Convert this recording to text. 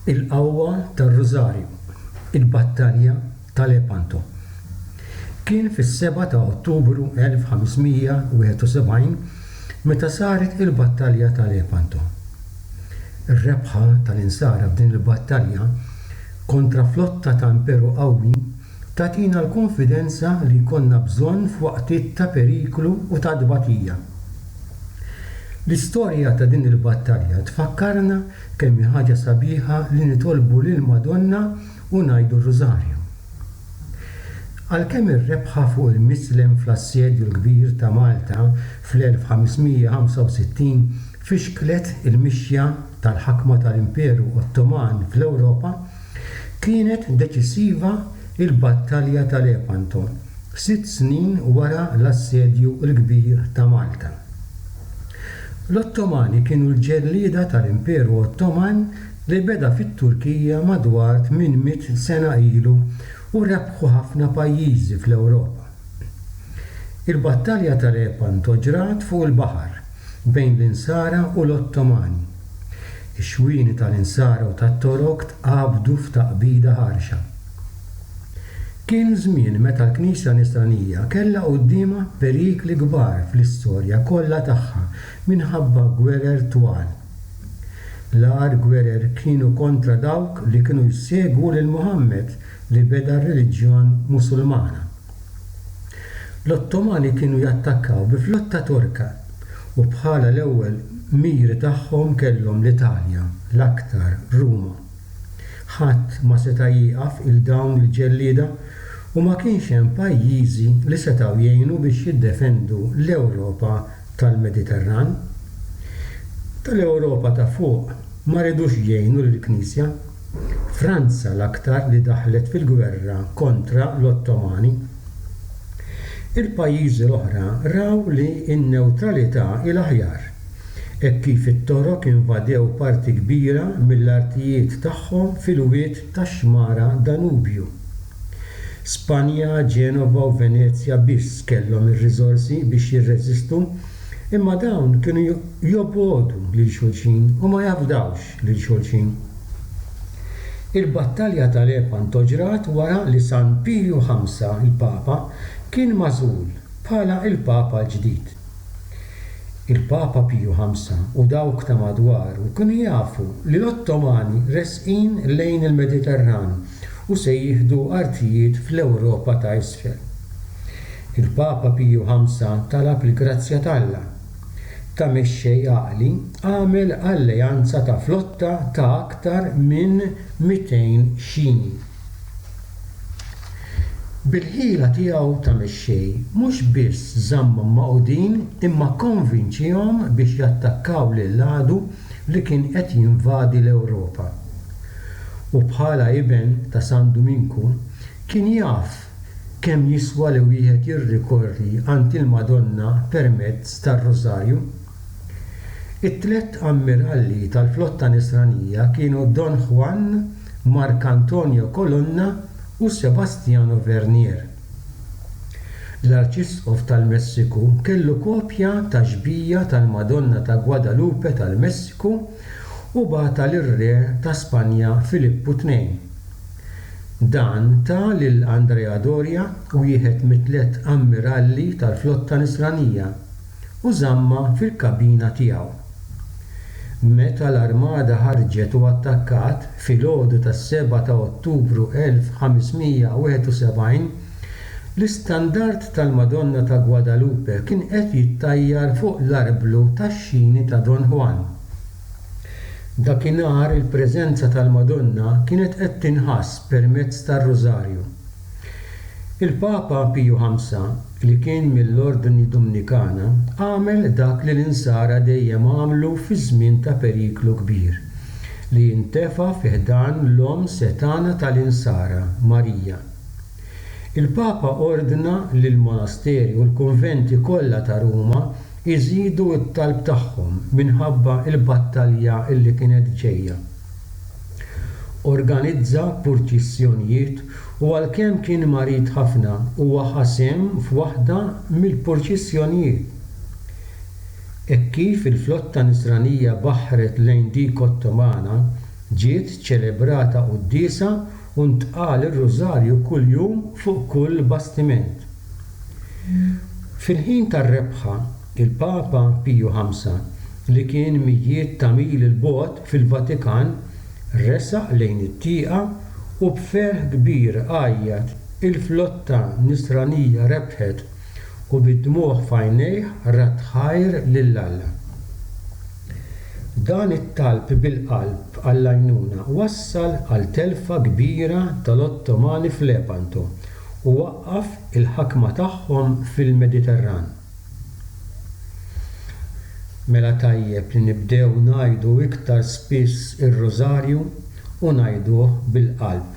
Il-qawwa tar-Rużarju, il-battalja ta' Lepanto. Kien fis-seba' ta' Ottubru 1571 meta saret il-battalja ta' Lepanto. Ir-rebħa tal-Insara f'din il-battalja kontra flotta ta' Imperu qawwi, Tagħtina l-kunfidenza li jkollna bżonn f'waqtiet ta' periklu u ta' tbatija. L-istorja ta' din il-battalja tfakkarna kemm hi ħaġa sabiħa li nitolbu lill-Madonna u ngħidu r-Rużarju. Għalkemm ir-rebħa fuq il-Mislem fl-Assedju l-Kbir ta' Malta fl-1565 fixklet il-mixja tal-ħakma tal-Imperu Ottoman fl-Ewropa, Kienet deċisiva l-Battalja ta' Lepanto, sitt snin wara l-Assedju l-Kbir ta' Malta. L-Ottomani kienu l-ġellieda tal-Imperu Ottoman li beda fit-Turkija madwar tmien mitt sena ilu u rebħu ħafna pajjiżi fl-Ewropa. Il-Battalja ta' Lepanto ġrat fuq il-baħar, bejn l-Insara u l-Ottomani. Ix-xwieni tal-insara u tat-toroq tqabdu f'taqbida ħarxa. Kien żmien meta l-Knisja Nisranija kellha quddiemha perikli kbar fl-istorja kollha tagħha minħabba gwerer twal. L-agħar gwerer kienu kontra dawk li kienu jsegwu lil Muħammad li beda r-reliġjon Musulmana. L-Ottomani kienu jattakkaw bi flotta Torka u bħala l-ewwel miri tagħhom kellhom l-Italja, l-aktar Ruma. Ħadd ma seta' jieqaf 'il dawn il-ġellieda u ma kienx hemm pajjiżi li setgħu jgħinu biex jiddefendu l-Ewropa tal-Mediterran. Tal-Ewropa ta' fuq ma ridux jgħinu lill-Knisja. Franza l-aktar li daħlet fil-gwerra kontra l-Ottomani. Il-pajjiżi l-oħra raw li n-newtralità hi l-aħjar, hekk kif it-Torok invadew parti kbira mill-artijiet tagħhom fil-wied tax-xmara Danubju. Spanja, Genova u Venezja biss kellhom ir-riżorsi biex jirreżistu, imma dawn kienu jobgħodu lil xulxin u ma jafdawx. lil xulxin. Il-battalja ta' Lepanto ġrat wara li San Piju Ħamsa, il-Papa, kien magħżul bħala il-Papa l-ġdid. Il-Papa Piju Ħamsa u dawk ta' madwaru kienu jafu li l-Ottomani resqin lejn il-Mediterran u se jieħdu artijiet fl-Ewropa ta' Isfel. Il-Papa Piju Ħamsa talab il-grazzja t'Alla. ta' mexxej għaqli għamel alleanza ta' flotta ta' aktar minn 200 xini. Bil-ħila tiegħu ta' mexxej, mhux biss żammhom magħqudin imma kkonvinċihom biex jattakkaw lill-għadu li kien qed jinvadi l-Ewropa. U bħala iben ta' San Duminku, kien jaf Kemm jiswa li wieħed jirrikorri għand il-Madonna permezz tar-Rużarju? It-tliet ammiralli tal-flotta Nisranija kienu Don Juan, Marc Antonio Colonna u Sebastiano Vernier. L-Arċisqof tal-Messiku kellu kopja tax-xbija tal-Madonna ta' Guadalupe tal-Messiku u bagħatha lir-Re ta' Spanja Filippu Tnejn. Dan ta lil Andrea Doria, wieħed mit-tliet ammiralli tal-flotta Nisranija, u żammha fil-kabina tiegħu. Meta l-armada ħarġet u attakkat, filgħodu tas-sebgħa ta' Ottubru 1571, l-istandard tal-Madonna ta' Guadalupe kien qed jittajjar fuq l-arblu tax-xini ta' Don Juan. Dakinhar il-preżenza tal-Madonna kienet qed tinħass permezz tar-Rużarju. Il-Papa Piju V, li kien mill-Ordni Dumnikana, għamel dak li l-Insara dejjem għamlu fi żmien ta' periklu kbir, li intefa' fi ħdan l-Omm setgħana tal-Insara, Marija. Il-Papa ordna li l-monasteri u l-kunventi kollha ta' Ruma iżidu t-talb tagħhom minħabba l-battalja li kienet ġejja. Organizza purċissjonijiet u għalkemm kien marid ħafna huwa ħa sehem f'waħda mill-purċissjonijiet. Hekk kif il-flotta Nisranija baħħret lejn dik Ottomana, ġiet ċelebrata quddiesa u ntqal ir-Rużarju kuljum fuq kull bastiment. Fil-ħin tar-rebħa, il-Papa Piju Ħamsa, li kien mijiet ta' mili 'l bogħod fil-Vatikan, resaq lejn it-tieqa u b'ferħ kbir għajjat, Il-flotta Nisranija rebħet! u bid-dmugħ f'għajnejh radd ħajr lil Alla. Dan it-talb bil-qalb għall-għajnuna wassal għal telfa kbira tal-Ottomani f'Lepanto u waqqaf il-ħakma tagħhom fil-Mediterran. Mela tajjeb li nibdew ngħidu iktar spiss ir-Rużarju u ngħiduh bil-qalb.